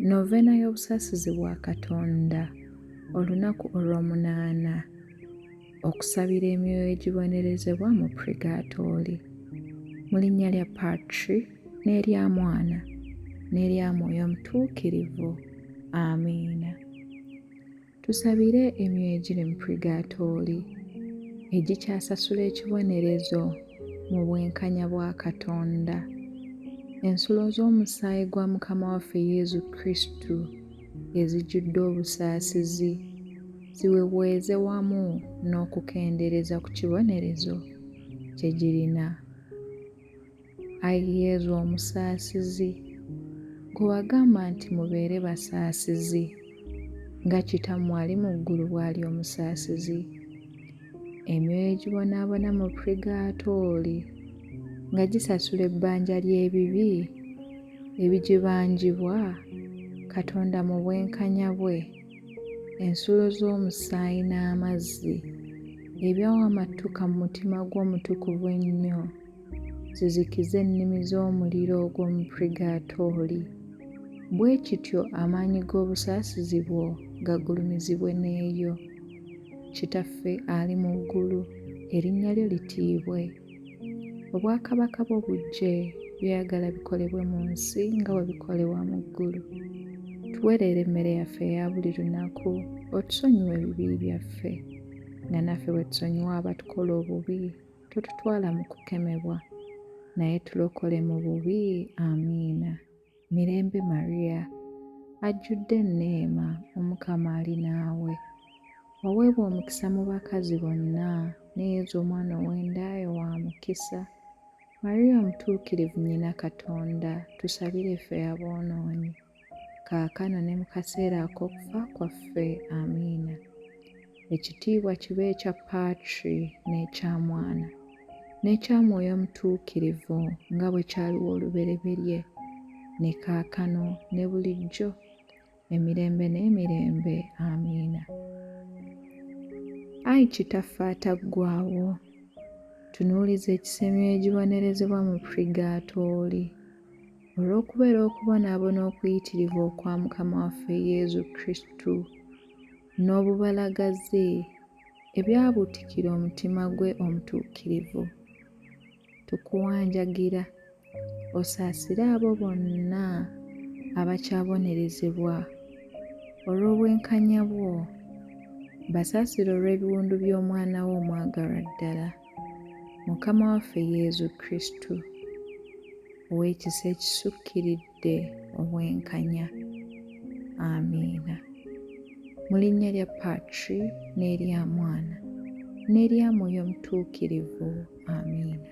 Noveena y'obusaasizi bwa Katonda olunaku olw'omunaana okusabira emyoyo egibonerezebwa mu purigatooli mu linnya lya Patri n'erya Mwana n'erya Mwoyo Mutuukirivu. Amiina. Tusabire emyoyo egiri mu purigaatooli egikyasasula ekibonerezo mu bwenkanya bwa Katonda. Ensulo z'omusaayi gwa Mukama waffe Yezu Kristu ezijjudde obusaasizi ziweweeze wamu n'okukendeereza ku kibonerezo kye girina. Ayi Yezu omusaasizi, gwe wagamba nti mubeere basaasizi nga Kitammwe ali mu ggulu bw'ali omusaasizi, emyoyo egibonaabona mu purigaatooli nga gisasula ebbanja ly'ebibi ebigibanjibwa Katonda mu bwenkanya bwe, ensulo z'omusaayi n'amazzi ebyawamattuka mu mutima gwo omutukuvu ennyo. zizikize ennimi z'omuliro ogw'omu purigaatooli, bwe kityo amaanyi g'obusaasizi bwo gagulumizibwe n'eyo. Kitaffe ali mu ggulu, erinnya lyo litiibwe. Obwakabaka bwo bujje, by'oyagala bikolebwe mu nsi nga bwe bikolebwa mu ggulu. Tuwe leero emmere yaffe eya buli lunaku, otusonyiwe ebibi byaffe nga naffe bwe tusonyiwa abatukola obubi totutwala mu kukemebwa naye tulokole mu bubi amiina mirembe maria ajjudde enneema omukama ali naawe waweebwa omukisa mu bakazi bonna ne yezu omwana ow'endaayo wa mukisa maria omutuukirivu nyina katonda tusabire ffe aboonoonyi kaakano ne mu kaseera ak'okufa kwaffe. Amiina. Ekitiibwa kibe ekya Patri n'ekya Mwana n'ekya Mwoyo Mutuukirivu, nga bwe kyaliwo olubereberye, ne kaakano, ne bulijjo, emirembe n'emirembe. Amiina. Ayi Kitaffe ataggwaawo, tunuuliza ekisemyo egibonerezebwa mu Purigaatooli. Olw'okubeera okubonaabona okuyitirivu okwa Mukama waffe Yezu Kristu n'obubalagaze ebyabuutikira omutima gwe omutuukirivu, tukuwanjagira osaasire abo bonna abakyabonerezebwa olw'obwenkanya bwo, basaasire olw'ebiwundu by'Omwana wo omwagalwa ddala. Mukama waffe Yezu Kristu ow'ekisa ekisukkiridde obwenkanya. Amiina. Mu linnya lya Patri n'erya Mwana n'erya Mwoyo Mutuukirivu. Amiina.